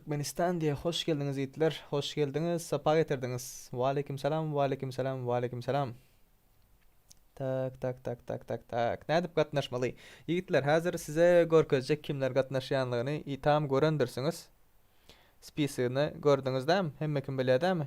Türkmenistan diýe hoş geldiňiz ýitler hoş geldiňiz sapa getirdiňiz waleýkim salam waleýkim salam waleýkim salam tak tak tak tak tak tak nädip gatnaşmaly ýigitler häzir size görkezjek kimler gatnaşýanlygyny i tam görendirsiňiz spisyny gördüňizdämi hemme kim bilýär dämi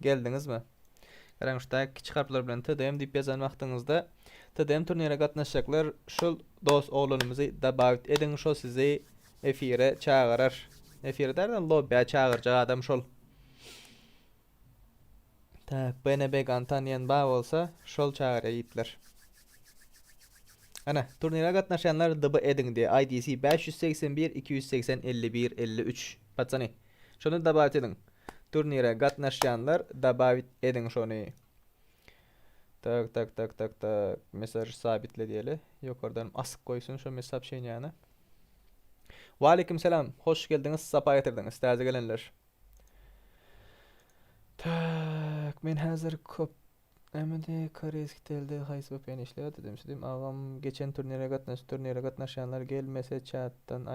Geldiňizmi? Garaň şu taýy kiçi harplar bilen TDM diýip ýazan wagtyňyzda TDM turnire gatnaşjaklar şul dos oglanymyzy dabawit ediň şo sizi efire çagyrar. Efire dälde lobbya çagyrjak adam şol. Tak BNBgan tanýan bar bolsa şol çagyrýa ýigitler. Ana turnire gatnaşýanlar DB ediň diýe IDC 581 280 51 53 patsany. Şony dabaýt ediň. Turnire gatnaşýanlar dabaýt ediň şony. Tak tak tak tak tak mesaj sabitle diýeli. Ýokardan asyp goýsun şo mes sopşeniýany. Waleýkim salam. Hoş geldiňiz, sapa getirdiňiz täze gelenler. Tak men häzir kop Nämendi koreýski telde haýsy VPN işleýär dedim, şedim agam geçen turnire gatnaşyp turnire gatnaşýanlar gelmese çatdan